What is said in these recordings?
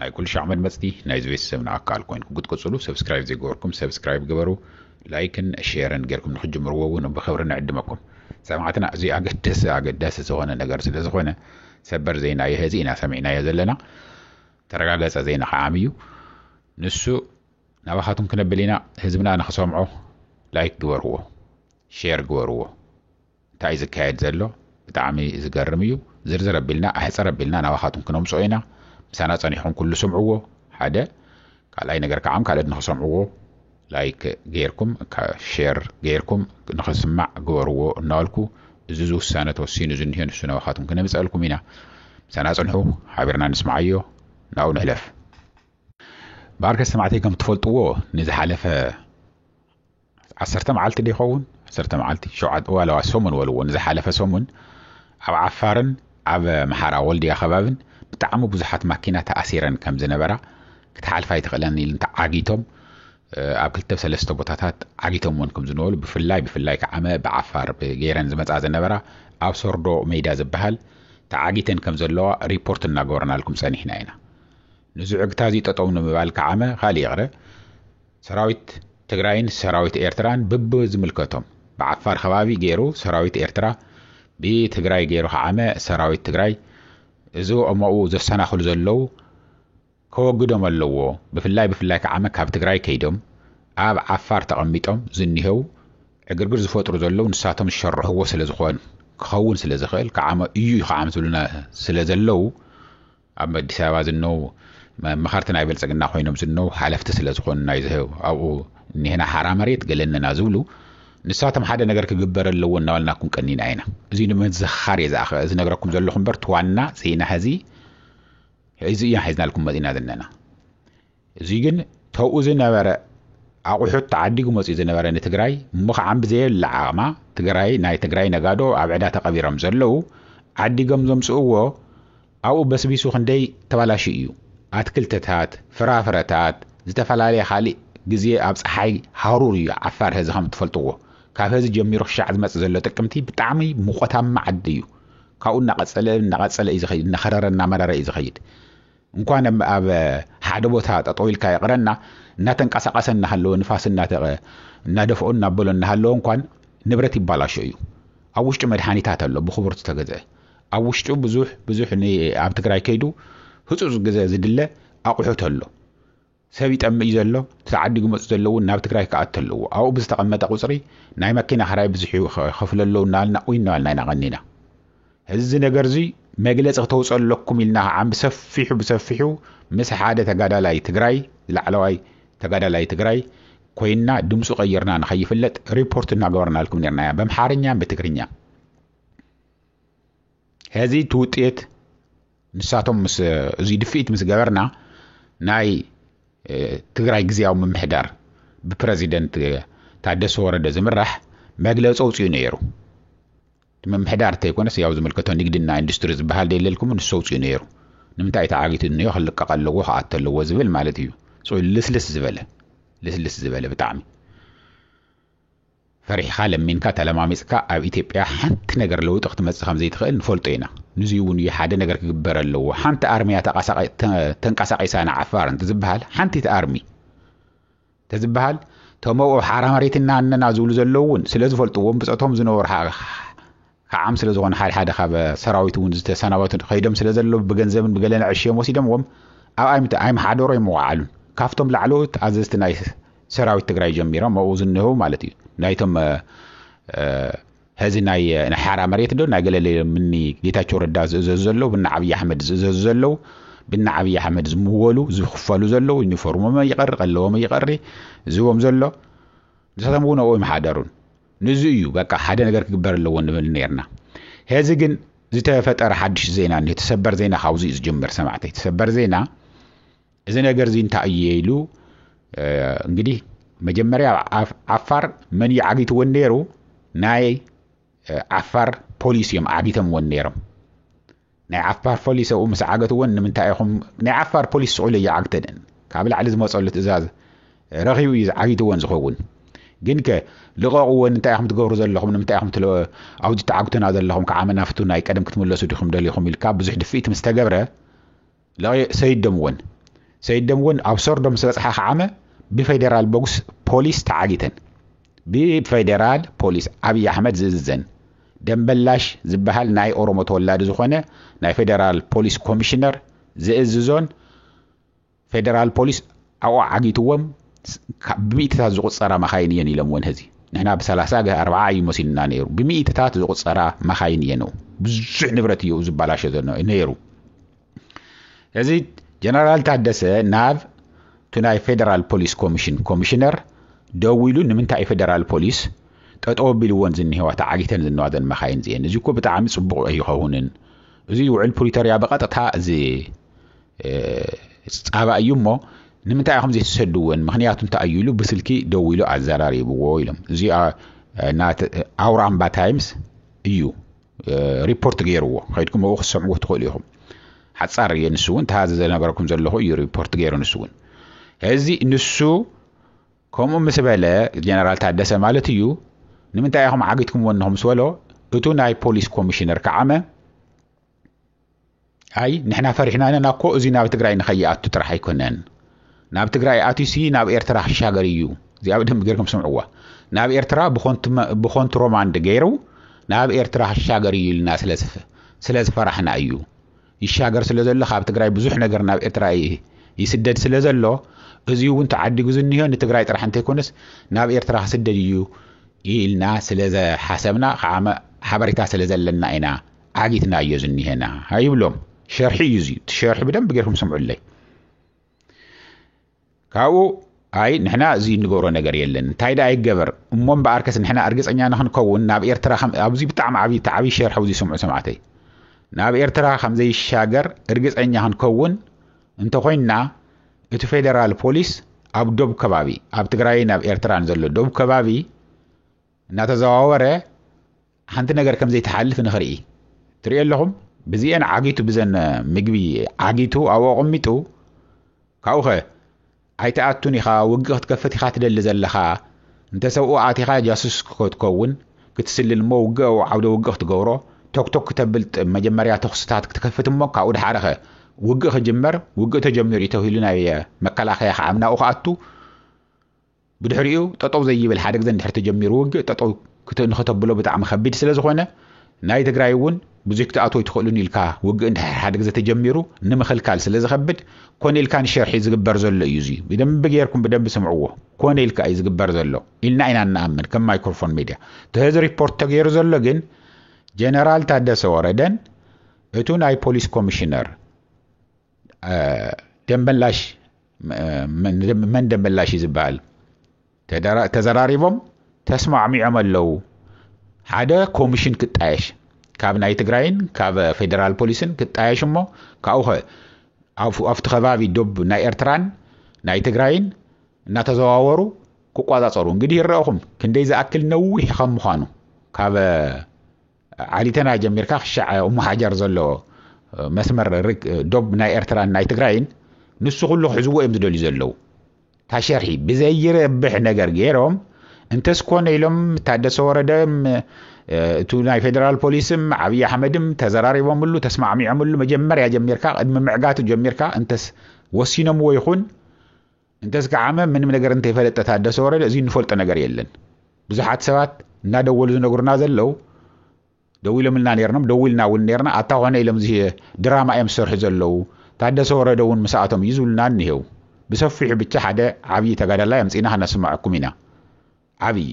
ናይ ኩልሻዕ መድመጽቲ ናይዚ ቤተሰብና ኣካል ኮይንኩ ክትቅጽሉ ሰብስክራይብ ዘይገበርኩም ሰብስክራይብ ግበሩ ላይክን ሼርን ጌርኩም ንክትጅምርዎ ውን ብክብሪ ንዕድመኩም ሰማዕትና እዚ ኣገደሲ ኣገዳሲ ዝኮነ ነገር ስለ ዝኮነ ሰበር ዜና የህዚ ኢና ሰሚዕናዮ ዘለና ተረጋገጸ ዜና ከዓ ዓሚ እዩ ንሱ ናባካቱም ክነብል ኢና ህዝብና ንክሰምዖ ላይክ ግበርዎ ሼር ግበርዎ እንታይ እዩ ዝካየድ ዘሎ ብጣዕሚ ዝገርም እዩ ዝርዝር ኣቢልና ኣሕፅር ኣቢልና ናባኻትኩም ክነምፅኦ ኢና ምሳና ፀኒሕኹም ኩሉ ስምዕዎ ሓደ ካልኣይ ነገር ከዓ ካልኦት ንክሰምዕዎ ላይክ ገይርኩም ሼር ገይርኩም ንክስማዕ ግበርዎ እናበልኩ እዚ ዝውሳነ ተወሲኑ ዝኒሆ ንሱ ናባኻትኩም ክነምፀእልኩም ኢና ምሳና ፅንሑ ሓቢርና ንስምዓዮ ናብኡ ንሕለፍ ባርከ ሰማዕተይ ከም ትፈልጥዎ ንዝሓለፈ ዓሰርተ መዓልቲ ዶ ይኸውን ዓሰርተ መዓልቲ ሸውዓተ ዋላዋ ሰሙን በልዎ ንዝሓለፈ ሰሙን ኣብ ዓፋርን ኣብ ኣምሓራ ወልድያ ከባብን ብጣዕሚ ብዙሓት ማኪና ተኣሲረን ከም ዝነበራ ክትሓልፍ ኣይትኽእለን ኢሉ ተዓጊቶም ኣብ ክልተ ሰለስተ ቦታታት ዓጊቶም እውን ከም ዝነበሩ ብፍላይ ብፍላይ ከዓመ ብዓፋር ብገይረን ዝመፃ ዝነበራ ኣብ ሶርዶ ሜዳ ዝበሃል ተዓጊተን ከም ዘለዋ ሪፖርት እናገበርናልኩም ፀኒሕና ኢና ንዝዕግታ እዚ ጠጠው ንምባል ከዓመ ካልእ ይቕረ ሰራዊት ትግራይን ሰራዊት ኤርትራን ብብ ዝምልከቶም ብዓፋር ከባቢ ገይሩ ሰራዊት ኤርትራ ብትግራይ ገይሩ ከዓመ ሰራዊት ትግራይ እዚ ኦሞኡ ዘሰናኽሉ ዘለው ከወግዶም ኣለዎ ብፍላይ ብፍላይ ከዓመ ካብ ትግራይ ከይዶም ኣብ ዓፋር ተቐሚጦም ዝኒሄው ዕግርግር ዝፈጥሩ ዘለው ንሳቶም ዝሸርሕዎ ስለ ዝኾን ክኸውን ስለ ዝኽእል ከዓመ እዩ ከዓም ዝብሉና ስለ ዘለው ኣብ ኣዲስ ኣበባ ዝነዉ መኻርቲ ናይ ብልፅግና ኮይኖም ዝነዉ ሓለፍቲ ስለ ዝኾኑ ናይ ዝህብ ኣብኡ እኒሀና ሓራ መሬት ገለ እነና ዝብሉ ንሳቶም ሓደ ነገር ክግበር ኣለዎ እናበልናኩም ቀኒና ኢና እዚ ንምዝኻር እየ ዝኣኸ ዝነግረኩም ዘለኹ እምበር እቲ ዋና ፅይና ሕዚ ሕዚ እያ ሒዝናልኩም መፂና ዝነና እዙይ ግን ተውኡ ዝነበረ ኣቑሑት ተዓዲጉ መፂኡ ዝነበረ ንትግራይ እሞ ከዓ ብዘየብላ ዓቕማ ትግራይ ናይ ትግራይ ነጋዶ ኣብ ዕዳ ተቐቢሮም ዘለው ዓዲጎም ዘምፅእዎ ኣብኡ በስቢሱ ክንደይ ተባላሹ እዩ ኣትክልትታት ፍራፍረታት ዝተፈላለየ ካሊእ ግዜ ኣብ ፀሓይ ሃሩር እዩ ዓፋር ሀዚ ከም እትፈልጥዎ ካብ ሀዚ ጀሚሩ ክሻዕ ዝመፅ ዘሎ ጥቅምቲ ብጣዕሚ ሙቆታማ ዓዲ እዩ ካብኡ እናቐፀለ እናቐፀለ እዩ ዝኸይድ እናኸረረ እናመረረ እዩ ዝኸይድ እንኳን ኣብ ሓደ ቦታ ጠጠው ኢልካ ይቕረና እናተንቀሳቐሰ እናሃለወ ንፋስ እናተቐ እናደፍኦ እናበሎ እናሃለወ እንኳን ንብረት ይባላሾ እዩ። ኣብ ውሽጡ መድሓኒታት ኣሎ ብኽቡር ዝተገዝአ ኣብ ውሽጡ ብዙሕ ብዙሕ ን ኣብ ትግራይ ከይዱ ህፁፅ ግዘ ዝድለ ኣቑሑት ኣሎ። ሰብ ይጠምእ እዩ ዘሎ እቲ ዓዲጉ መጹ ዘሎ እውን ናብ ትግራይ ክኣቱ ኣለዎ ኣብኡ ብዝተቀመጠ ቁጽሪ ናይ መኪና ክራይ ብዙሕ እዩ ክከፍሉ ኣለዉ እናበልና ኡይ እናበልና ኢና ቀኒና እዚ ነገር እዙይ መግለፂ ክተውፅኦ ኣለኩም ኢልና ከዓን ብሰፊሑ ብሰፊሑ ምስ ሓደ ተጋዳላይ ትግራይ ላዕለዋይ ተጋዳላይ ትግራይ ኮይና ድምፁ ቀይርና ንከይፍለጥ ሪፖርት እናገበርናልኩም ነርና እያ በምሓርኛን ብትግርኛ ሐዚ እቲ ውጤት ንሳቶም ምስ እዙይ ድፍኢት ምስ ገበርና ናይ ትግራይ ግዜያዊ ምምሕዳር ብፕረዚደንት ታደሰ ወረደ ዝምራሕ መግለፂ ኣውፅኡ ነይሩ። እቲ ምምሕዳር እንተይኮነስ ያው ዝምልከቶ ንግድና ኢንዱስትሪ ዝበሃል ደየለልኩም ንሱ ኣውፅኡ ነይሩ። ንምንታይ ተዓጊቱ እንዮ ክልቀቕ ኣለዎ ክኣቶ ኣለዎ ዝብል ማለት እዩ። ልስልስ ዝበለ ልስልስ ዝበለ ብጣዕሚ ፈሪሕኻ ለሚንካ ተለማሚጽካ ኣብ ኢትዮጵያ ሓንቲ ነገር ለውጢ ክትመጽእ ከም ዘይትኽእል ንፈልጦ ኢና። ንዙይ እውን እዩ ሓደ ነገር ክግበር ኣለዎ። ሓንቲ ኣርሚ እያ ተንቀሳቒሳ ንዓፋር እንትዝበሃል ሓንቲት ኣርሚ ተዝበሃል ተመኡ ሓራ መሬትና እነና ዝብሉ ዘለዉ እውን ስለ ዝፈልጥዎም ብጸቶም ዝነበሩ ክዓም ስለ ዝኾኑ ሓደ ሓደ ካብ ሰራዊት እውን ዝተሰናበቱ ከይዶም ስለ ዘለዉ ብገንዘብን ብገለን ኣዕሽዮም ወሲዶምዎም ኣብ ኣይምት ኣይምሓደሮ ኣይመዋዓሉን ካብቶም ላዕለዎት ኣዘዝቲ ናይ ሰራዊት ትግራይ ጀሚሮም ኣብኡ ዝንህው ማለት እዩ ናይቶም ሀዚ ናይ ሓራ መሬት ዶ ናይ ገለለ ምኒ ጌታቸው ረዳ ዝእዘዙ ዘለዉ ብና ዓብዪ ኣሕመድ ዝእዘዙ ዘለዉ ብና ዓብዪ ኣሕመድ ዝምወሉ ዝኽፈሉ ዘለዉ ዩኒፎርሞም ይቐሪ ቀለቦም ይቐሪ ዝቦም ዘሎ ንሳቶም እውን ኣብኡ ይመሓደሩን ንዙይ እዩ በቃ ሓደ ነገር ክግበር ኣለዎ ንብል ነርና ሄዚ ግን ዝተፈጠረ ሓድሽ ዜና እኒሆ ተሰበር ዜና ካብዚ እዩ ዝጅምር ሰማዕተይ ተሰበር ዜና እዚ ነገር እዚ እንታይ እዩ ኢሉ እንግዲህ መጀመሪያ ዓፋር መን እዩ ዓጊትወን ነይሩ ናይ ዓፋር ፖሊስ እዮም ዓጊተምወን ነይሮም ናይ ዓፋር ፎሊስ ኣብኡ ምስ ዓገትወን ንምንታይ ኢኹም ናይ ዓፋር ፖሊስ ስቕ ኢሉ ኣይዓግተንን ካብ ላዕሊ ዝመጸሉ ትእዛዝ ረኺቡ እዩ ዝዓጊትወን ዝኸውን ግንከ ልቐቕወን እንታይ ኢኹም ትገብሩ ዘለኹም ንምንታይ ኢኹም ትለ ኣብዚ ትዓግቱና ዘለኹም ክዓመና ፍቱን ኣይ ቀደም ክትምለሱ ዲኹም ደሊኹም ኢልካ ብዙሕ ድፍኢት ምስ ተገብረ ለቒ ሰይድ ደምወን ሰይድ ደምወን ኣብ ሰርዶ ምስ በጽሓ ከዓመ ብፌደራል ቦግስ ፖሊስ ተዓጊተን ብፌደራል ፖሊስ ኣብይ ኣሕመድ ዝእዝዘን ደምበላሽ ዝበሃል ናይ ኦሮሞ ተወላዲ ዝኾነ ናይ ፌደራል ፖሊስ ኮሚሽነር ዝእዝዞን ፌደራል ፖሊስ ኣብኡ ዓጊትዎም ካብ ብሚእቲታት ዝቑጸራ መኻይን እየን ኢሎምወን ሀዚ ንሕና ብሰላሳ ገ ኣርብዓ እዩ መሲሉና ነይሩ ብሚእቲታት ዝቑጸራ መኻይን እየን ብዙሕ ንብረት እዩ ዝባላሾ ዘሎ ነይሩ እዚ ጀነራል ታደሰ ናብ እቲ ናይ ፌደራል ፖሊስ ኮሚሽን ኮሚሽነር ደዊሉ ንምንታይ ፌደራል ፖሊስ ጠጠው ቢልዎን ዝኒሄዋ ተዓጊተን ዝነዋዘን መኻይን እዚኤን እዚ እኮ ብጣዕሚ ፅቡቕ ኣይኸውንን እዚ ውዕል ፕሪቶርያ ብቐጥታ እዚ ፃባ እዩ እሞ ንምንታይ ኢኹም ዘይትሰድወን ምክንያቱ እንታይ እዩ ኢሉ ብስልኪ ደዊሉ ኣዘራሪብዎ ኢሎም እዚኣ ኣውራምባ ታይምስ እዩ ሪፖርት ገይርዎ ከይድኩም ኣብኡ ክትሰምዕዎ ትኽእሉ ኢኹም ሓፃር እየ ንሱ እውን ተሃዚ ዘነገረኩም ዘለኹ እዩ ሪፖርት ገይሩ ንሱ እውን እዚ ንሱ ከምኡ ምስ በለ ጀነራል ታደሰ ማለት እዩ ንምንታይ ኢኹም ዓጊትኩምዎ እንኹም ምስ በሎ እቱ ናይ ፖሊስ ኮሚሽነር ከዓመ ኣይ ንሕና ፈሪሕና ኣለና እኮ እዚ ናብ ትግራይ ንኸይኣቱ ጥራሕ ኣይኮነን ናብ ትግራይ ኣትዩሲ ናብ ኤርትራ ክሻገር እዩ እዚኣ ብደንብ ጌርኩም ስምዕዋ ናብ ኤርትራ ብኾንቱ ሮማንድ ገይሩ ናብ ኤርትራ ክሻገር እዩ ኢልና ስለ ዝፈራሕና እዩ ይሻገር ስለ ዘሎ ካብ ትግራይ ብዙሕ ነገር ናብ ኤርትራ ይስደድ ስለ ዘሎ እዚ እውን ተዓዲጉ ዝኒሆ ንትግራይ ጥራሕ እንተይኮነስ ናብ ኤርትራ ክስደድ እዩ ኢልና ስለ ዝሓሰብና ሓበሬታ ስለ ዘለና ኢና ዓጊትናዮ ዝኒሀና ኣይብሎም ሸርሒ እዩ እዚ እቲ ሸርሒ ብደንብ ጌርኩም ስምዑለይ ካብኡ ኣይ ንሕና እዚ እንገብሮ ነገር የለን እንታይ ደኣ ይገበር እሞ እምበኣርከስ ንሕና እርግፀኛ ንክንከውን ናብ ኤርትራ ኣብዚ ብጣዕሚ ዓብዪ እቲ ዓብዪ ሸርሒ ኣብዚ ስምዑ ሰማዕተይ ናብ ኤርትራ ከም ዘይሻገር እርግፀኛ ክንከውን እንተኮይንና እቲ ፌደራል ፖሊስ ኣብ ዶብ ከባቢ ኣብ ትግራይን ኣብ ኤርትራን ዘሎ ዶብ ከባቢ እናተዘዋወረ ሓንቲ ነገር ከም ዘይትሓልፍ ንኽርኢ ትሪኦ ኣለኹም ብዚኤን ዓጊቱ ብዘን ምግቢ ዓጊቱ ኣብኡ ኣቐሚጡ ካብኡኸ ኣይትኣቱን ኢኻ ውግእ ክትከፍት ኢኻ ትደሊ ዘለኻ እንተ ሰብኡ ኣቲኻ ጃሱስ ክትከውን ክትስልል እሞ ውግእ ኣብኡ ዓውደ ውግእ ክትገብሮ ቶክቶክ ክተብልጥ መጀመርያ ተኹስታት ክትከፍት እሞ ካብኡ ድሓረኸ ውግእ ክጅመር ውግእ ተጀሚሩ እዩ ተብሂሉ ናይ መከላኸያ ክዓምናኡ ክኣቱ ብድሕሪኡ ጠጠው ዘይብል ሓደ ግዘ እንድሕር ተጀሚሩ ውግእ ጠጠው ንኸተብሎ ብጣዕሚ ከቢድ ስለዝኾነ ናይ ትግራይ እውን ብዙይ ክትኣት ወይ ትኽእሉን ኢልካ ውግእ እንድሕር ሓደ ግዘ ተጀሚሩ ንምኽልካል ስለዝኸብድ ኮነ ኢልካ ንሸርሒ ዝግበር ዘሎ እዩ እዙይ ብደንቢ ገይርኩም ብደንቢ ስምዕዎ ኮነ ኢልካ እዩ ዝግበር ዘሎ ኢልና ኢና እንኣምን ከም ማይክሮፎን ሚድያ ተህዚ ሪፖርት ተገይሩ ዘሎ ግን ጀነራል ታደሰ ወረደን እቱ ናይ ፖሊስ ኮሚሽነር ደመላሽ መን ደመላሽ እዩ ዝበሃል ተዘራሪቦም ተስማዕሚዖም ኣለዉ ሓደ ኮሚሽን ክጣየሽ ካብ ናይ ትግራይን ካብ ፌደራል ፖሊስን ክጣየሽ እሞ ካብኡ ኸ ኣብቲ ከባቢ ዶብ ናይ ኤርትራን ናይ ትግራይን እናተዘዋወሩ ክቆፃፀሩ እንግዲህ ይረአኹም ክንደይ ዝኣክል ነዊሕ ከም ምዃኑ ካብ ዓሊተና ጀሚርካ ክሻዕ እሞ ሓጀር ዘሎ መስመር ዶብ ናይ ኤርትራን ናይ ትግራይን ንሱ ኩሉ ክሕዝዎ እዮም ዝደልዩ ዘለዉ እታ ሸርሒ ብዘይረብሕ ነገር ገይሮም እንተስ ኮነ ኢሎም ታደሰ ወረደ እቱ ናይ ፌደራል ፖሊስም ዓብዪ ኣሕመድም ተዘራሪቦምሉ ተስማዕሚዖምሉ መጀመርያ ጀሚርካ ቅድሚ ምዕጋቱ ጀሚርካ እንተስ ወሲኖምዎ ይኹን እንተስከዓመ ምንም ነገር እንተይፈለጠ ታደሰ ወረደ እዚ እንፈልጦ ነገር የለን ብዙሓት ሰባት እናደወሉ ዝነግሩና ዘለው ደው ኢሎምልና ነርኖም ደው ኢልና እውን ነርና ኣታ ኮነ ኢሎም እዚ ድራማ እዮም ዝሰርሑ ዘለው ታደሰ ወረደ እውን ምስኣቶም እዩ ዝብሉና እኒሄው ብሰፊሑ ብቻ ሓደ ዓብዪ ተጋዳላይ ኣምፂና ከነስማዐኩም ኢና ዓብዪ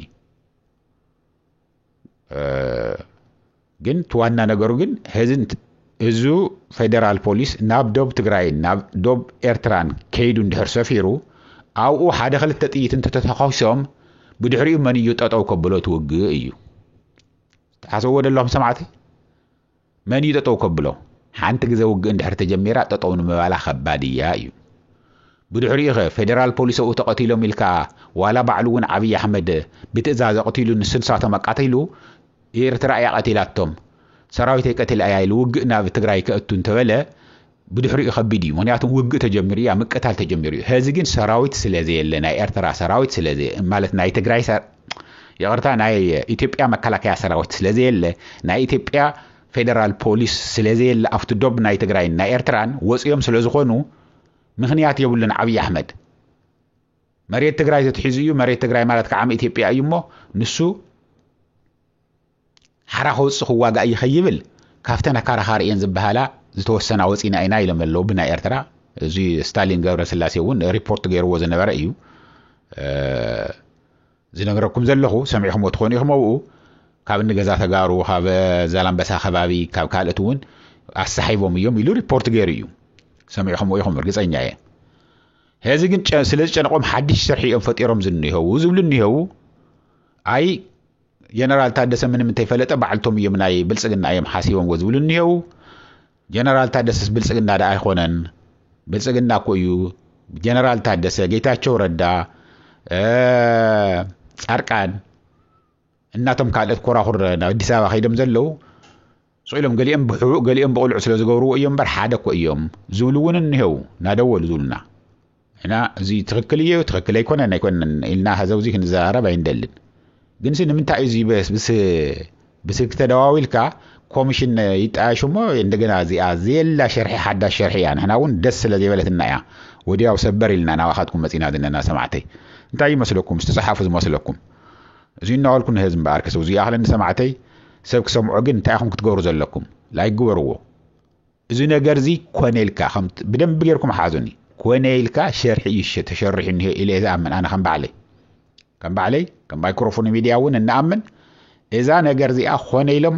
ግን እቲ ዋና ነገሩ ግን ህዙ ፌደራል ፖሊስ ናብ ዶብ ትግራይን ናብ ዶብ ኤርትራን ከይዱ እንድሕር ሰፊሩ ኣብኡ ሓደ ክልተ ጥይት እንተተተኾሶም ብድሕሪኡ መን እዩ ጠጠው ከብሎ ትውግእ እዩ ተሓሰብዎ ደለኹም ሰማዕቲ መን እዩ ጠጠው ከብሎ? ሓንቲ ግዘ ውግእ እንድሕር ተጀሚራ ጠጠው ንምባላ ከባድ እያ እዩ። ብድሕሪኡ ከ ፌደራል ፖሊስ ኣብኡ ተቐቲሎም ኢልካ ዋላ ባዕሉ እውን ዓብይ ኣሕመድ ብትእዛዝ ኣቕቲሉ ንሱ ንሳቶም ኣቃቲሉ ኤርትራ እያ ቀቲላቶም ሰራዊተይ ቀቲላ እያ ኢሉ ውግእ ናብ ትግራይ ከእቱ እንተበለ ብድሕሪኡ ከቢድ እዩ ምክንያቱ ውግእ ተጀሚሩ እያ ምቅታል ተጀሚሩ እዩ ሀዚ ግን ሰራዊት ስለ ዘየለ ናይ ኤርትራ ሰራዊት ስለ ማለት ናይ ትግራይ ይቅርታ ናይ ኢትዮጵያ መከላከያ ሰራዊት ስለ ዘየለ ናይ ኢትዮጵያ ፌደራል ፖሊስ ስለ ዘየለ ኣብቲ ዶብ ናይ ትግራይን ናይ ኤርትራን ወፅዮም ስለ ዝኾኑ ምክንያት የብሉን ዓብዪ ኣሕመድ መሬት ትግራይ ተትሒዙ እዩ መሬት ትግራይ ማለት ከዓም ኢትዮጵያ እዩ እሞ ንሱ ሓራ ከውጽእ ክዋጋእ እየ ከይብል ካብተን ኣካራኻሪ እየን ዝበሃላ ዝተወሰና ወጺና ኢና ኢሎም ኣለዉ ብናይ ኤርትራ እዚ ስታሊን ገብረስላሴ እውን ሪፖርት ገይርዎ ዝነበረ እዩ ዝነግረኩም ዘለኹ ሰሚዕኹሞ ትኾኑ ኢኹም ኣብኡ ካብ እንገዛ ተጋሩ ካብ ዛላምበሳ ከባቢ ካብ ካልእት እውን ኣሰሓይቦም እዮም ኢሉ ሪፖርት ገይሩ እዩ ሰሚዕኹሞ ኢኹም እርግፀኛ እየ ሕዚ ግን ስለ ዝጨነቆም ሓድሽ ስርሒ እዮም ፈጢሮም ዝኒሀው ዝብሉ እኒሀው ኣይ ጀነራል ታደሰ ምንም እንተይፈለጠ ባዕልቶም እዮም ናይ ብልፅግና እዮም ሓሲቦምዎ ዝብሉ እኒሄው ጀነራል ታደሰስ ብልፅግና ዳ ኣይኮነን ብልፅግና እኮ እዩ ጀነራል ታደሰ ጌታቸው ረዳ ፃርቃን እናቶም ካልኦት ኮራኩር ናብ ኣዲስ ኣበባ ከይዶም ዘለው ስቕ ኢሎም ገሊኦም ብሕቡእ ገሊኦም ብቕሉዕ ስለ ዝገብርዎ እዮም እምበር ሓደ እኮ እዮም ዝብሉ እውን እኒሀው እናደወሉ ዝብሉና ንሕና እዚ ትኽክል እየ ትኽክል ኣይኮነን ኣይኮነን ኢልና ሀዘውዚ ክንዘራረብ ኣይንደልን ግንሲ ንምንታይ እዩ እዚ ብስልኪ ተደዋዊልካ ኮሚሽን ይጣየሽ እሞ እንደገና እዚኣ ዘየላ ሸርሒ ሓዳሽ ሸርሒ እያ ንሕና እውን ደስ ስለ ዘይበለትና እያ ወዲያው ሰበር ኢልና ናባኻትኩም መፂና ዘለና ሰማዕተይ እንታይ ይመስለኩም ዝተፅሓፉ ዝመስለኩም እዚ እናበልኩ ንህዝቢ እምበኣር ክስብ እዚኣ ክለኒ ሰማዕተይ ሰብ ክሰምዖ ግን እንታይ ኢኹም ክትገብሩ ዘለኩም ላይክ ግበርዎ እዚ ነገር እዚ ኮነ ኢልካ ከም ብደንብ ጌርኩም ሓዙኒ ኮነ ኢልካ ሸርሒ እዩ ሸ- ተሸሪሑ እኒሀ ኢለ ዝኣምን ኣነ ከም ባዕለይ ከም ባዕለይ ከም ማይክሮፎን ሚድያ እውን እንኣምን እዛ ነገር እዚኣ ኮነ ኢሎም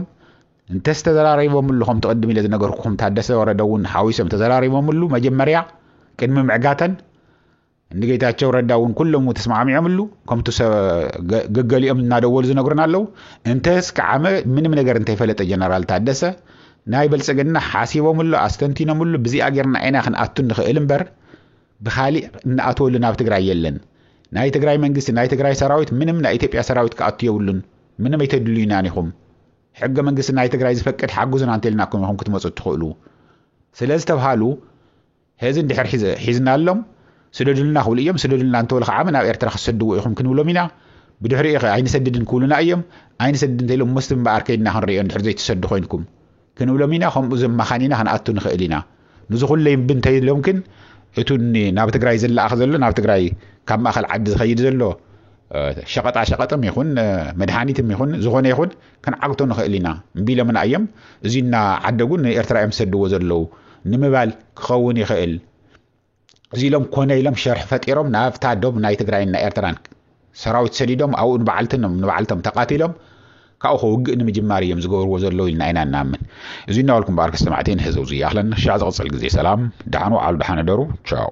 እንተዝተዘራሪቦምሉ ከም ትቕድም ኢለ ዝነገርኩኹም ታደሰ ወረደ እውን ሓዊሶም ተዘራሪቦምሉ መጀመርያ ቅድሚ ምዕጋተን እንጌታቸው ረዳ እውን ኩሎም ተስማዕሚዖምሉ ከምቱ ገገሊኦም እናደወሉ ዝነግሩና ኣለዉ እንተስ ከዓመ ምንም ነገር እንተይፈለጠ ጀነራል ታደሰ ናይ ብልፅግና ሓሲቦምሉ ኣስተንቲኖምሉ ብዚኣ ጌርና ኢና ክንኣቱ ንኽእል እምበር ብካሊእ እናኣተወሉ ናብ ትግራይ የለን ናይ ትግራይ መንግስቲ ናይ ትግራይ ሰራዊት ምንም ናይ ኢትዮጵያ ሰራዊት ክኣቱ የብሉን ምንም ኣይተድልዩናን ኢኹም ሕገ መንግስቲ ናይ ትግራይ ዝፈቅድ ሓግዙና እንተልናኩም ኢኹም ክትመፁ እትኽእሉ ስለ ዝተብሃሉ ሔዚ እንድሕር ሒዝናሎም ስደዱልና ክብሉ እዮም ስደዱልና እንተበሉ ከዓመ ናብ ኤርትራ ክትሰድዎ ኢኹም ክንብሎም ኢና ብድሕሪኡ ከ ኣይንሰድድን ክብሉና እዮም ኣይንሰድድ እንተኢሎም መስቲ እምበኣር ከይድና ክንሪኦ እንድሕር ዘይትሰዱ ኮይንኩም ክንብሎም ኢና ከምኡ ዘማኻኒና ክንኣቱ ንኽእል ኢና ንዚ ኩለይ እምቢ እንተኢሎም ግን እቱ ናብ ትግራይ ዝለኣኽ ዘሎ ናብ ትግራይ ካብ ማእኸል ዓዲ ዝኸይድ ዘሎ ሸቐጣ ሸቐጥም ይኹን መድሃኒትም ይኹን ዝኾነ ይኹን ክንዓግቶ ንኽእል ኢና ቢሎምና እዮም እዙይ እና ዓደጉ ንኤርትራ እዮም ዝሰድዎ ዘለዉ ንምባል ክኸውን ይኽእል እዚ ኢሎም ኮነ ኢሎም ሸርሒ ፈጢሮም ናብታ ዶብ ናይ ትግራይን ናይ ኤርትራን ሰራዊት ሰዲዶም ኣብኡ ንበዓልትኖም ንበዓልቶም ተቃቲሎም ካብኡ ከውግእ ንምጅማር እዮም ዝገብርዎ ዘለዉ ኢልና ኢና እናምን እዚ እናበልኩም በኣር ክሰማዕቲ ንሕዘው ዝያኽለን ሻዕ ዝቕፅል ግዜ ሰላም ደሓን ወዓሉ ደሓን እደሩ ቻው